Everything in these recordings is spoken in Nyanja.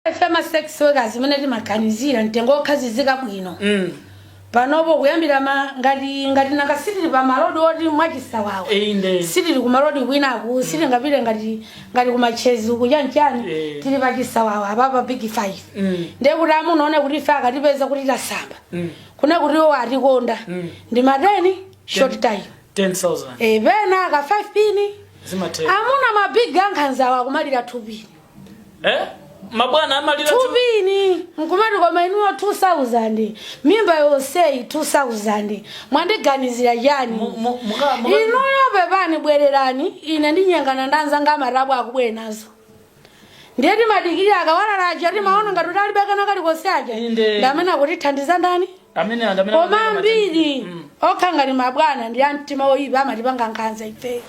ife ma sex workers zimene timaganizira mtengo okhazikika bwino Mm. panopo kuyambira ma ngati ngati nanga sitili pa malodi oti mwachisawawa Inde. sitili ku malodi kwinaku sitingapite ngati ngati kumachezi kuchanchani Eh. tili pa chisawawa apapa big five Mm. ndiye kuti amuna aone kuti ife akatipeza kuti tasamba Mm. kuna kuti iwo atikonda Mm. ndi mateni short time 10,000. e pena ka 5 pini Zimatera. amuna mabig ankhanzawa akumalira 2 pini eh mabwana amalira tu- tupini nkumati koma inuyo 2000 mimba yonseyi 2000 mwandiganizira Mu- chani mu- muka- muka- inuyo pepani bwererani ine ndinyengana ndanzanga amatabwa akubwera nazo ndiye timadikirira akawalala aja timaona ngati kuti alibe kana kalikonse aja Inde. ndamene akutithandiza ndani Amene anthu amene koma amapanga matenda- ambiri Mm. okha ngati mabwana ndi amtima oyipa amatipanga nkhanza ife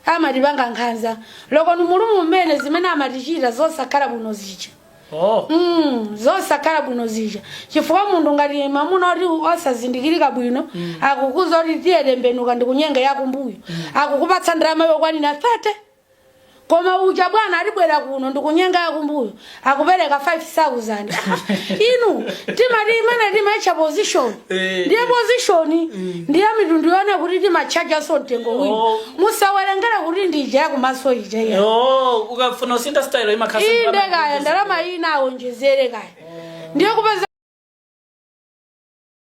amatipanga nkhanza loko ni mulumu mmene zimene amatichita zosakhala bwino zija Oh. Mm, zosakhala bwino zija chifukwa munthu ngati mamuna oti osazindikirika bwino akukuuza kuti tiye tembenuka ndikunyenge yakumbuyo akukupatsa ndalama yokwanira 30 koma uja bwana akubwera kuno ndikunyenge yakumbuyo akupereka 5000 inu timati imene timaitcha position Eh. ndiye position ndiye mitundu yonse kuti timatchajanso mtengo wina Oh. musawerengere kuti ndi ija yakumaso ija iya Yo, ukafuna usinthe style imakhasa. inde kaya ndalama ina awonjezere kaya ndiye kupeza